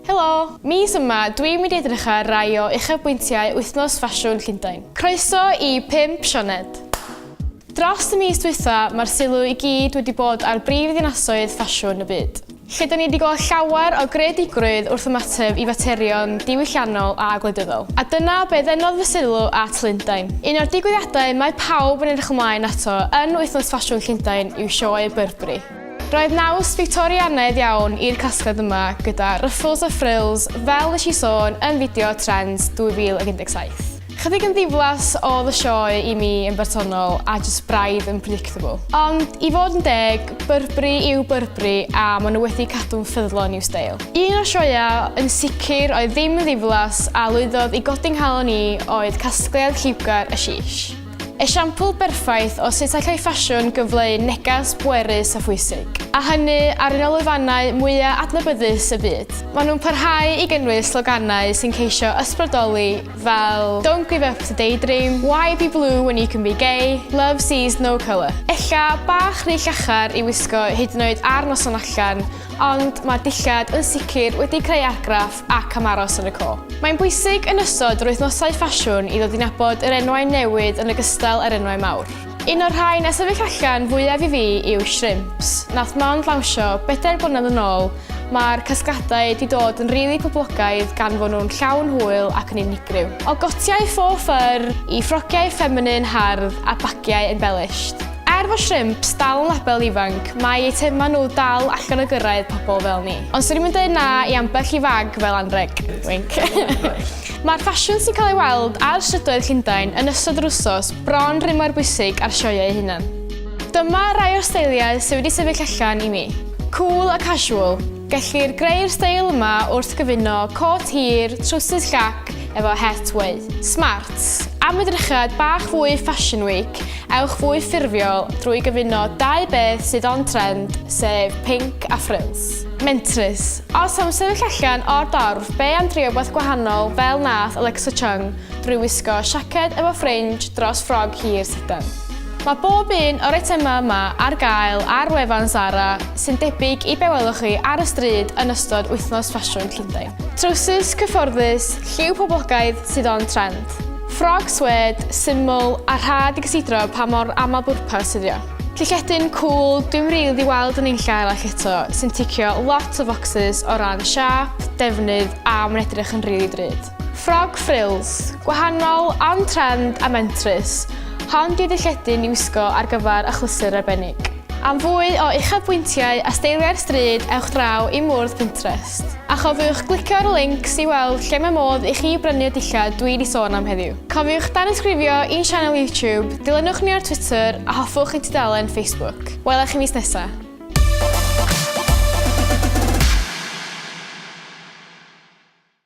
Helo! Mis yma, dwi'n mynd i edrych ar rai o uchafbwyntiau wythnos ffasiwn Llundain. Croeso i 5 Sioned! Dros y mis dwytha, mae'r sylw i gyd wedi bod ar brif ddinasoedd ffasiwn y byd. lle da ni wedi gweld llawer o greadigrwydd wrth ymateb i faterion diwylliannol a gwleidyddol. A dyna be ddenodd fy sylw at Lundain. Un o'r digwyddiadau mae pawb yn edrych ymlaen ato yn Wythnos Ffasiwn Llundain yw Sioe Burberry. Roedd naws Fictorianaidd iawn i'r casgliad yma gyda ruffles a frills fel nes i sôn yn fideo Trends 2017. Chydig yn ddiflas oedd y sioe i mi yn bersonol a just braidd yn predictable. Ond i fod yn deg, Burberry yw Burberry a maen nhw wedi cadw'n ffyddlon i'w steil. Un o'r sioeau yn sicr oedd ddim yn ddiflas a lwyddodd i godi nghalon i oedd casgliad lliwgar y Shish. Esiampl berffaith o sut allai ffasiwn gyfleu neges bwerus a phwysig, a hynny ar un o lwyfannau mwyaf adnabyddus y byd. Maen nhw'n parhau i gynnwys sloganau sy'n ceisio ysbrydoli fel Don't give up to daydream, Why be blue when you can be gay, Love sees no colour. Ella bach rhy llachar i wisgo hyd yn oed ar noson allan, ond mae'r dillad yn sicr wedi creu argraff ac am aros yn y co. Mae'n bwysig yn ystod yr wythnosau ffasiwn i ddod i nabod yr enwau newydd yn ogystal â'r enwau mawr. Un o'r rhain a sefyll allan fwyaf i fi yw Shrimps. Nath mond lawnsio bedair blynedd yn ôl, mae'r casgladau 'di dod yn rili poblogaidd gan fod nhw'n llawn hwyl ac yn unigryw. O gotiau faux fur i ffrogiau ffeminin hardd a bagiau embellished. Er fod Shrimps dal yn label ifanc, mae eitemau nhw dal allan o gyrraedd pobl fel ni. Ond 'swn i'm yn deud na i ambell i fag fel anrheg. Wink. Mae'r ffasiwn sy'n cael ei weld ar strydoedd Llundain yn ystod yr wsos bron rhy mor bwysig â'r sioeau eu hunan. Dyma rai o'r steiliau sydd wedi sefyll allan i mi. Cool a casual, gellir greu'r steil yma wrth gyfuno côt hir, trowsus llac efo het weu. Smart, am edrychad bach fwy Fashion Week, ewch fwy ffurfiol drwy gyfuno dau beth sydd on trend, sef pinc a frills. Mentrus, Os am sefyll allan o'r dorf, be am drio wbath gwahanol fel nath Alexa Chung drwy wisgo siaced efo ffrinj dros ffrog hir sidan? Mae bob un o'r eitemau yma ar gael ar wefan Zara sy'n debyg i be welwch chi ar y stryd yn ystod Wythnos Ffasiwn Llundain. Trowsus cyfforddus, lliw poblogaidd sydd on trend. Ffrog swêd, syml a rhad i gysidro pa mor aml-bwrpas ydi o. Llychetyn cwl, dwi'n rili di weld yn ein llaw ac eto, sy'n ticio lot o focsys o ran siap, defnydd a mae'n edrych yn rili drud. Ffrog ffrils, gwahanol, on trend a mentrus. Hon di ddylletyn i wisgo ar gyfer achlysur arbennig. Am fwy o uchafbwyntiau a steiliau'r stryd ewch draw i mwrdd Pinterest. A chofiwch glicio'r links i weld lle mae modd i chi brynu'r dillad dwi di sôn am heddiw. Cofiwch danysgrifio i'n sianel YouTube, dilynwch ni ar Twitter a hoffwch ein tudalen Facebook. Wela chi mis nesa!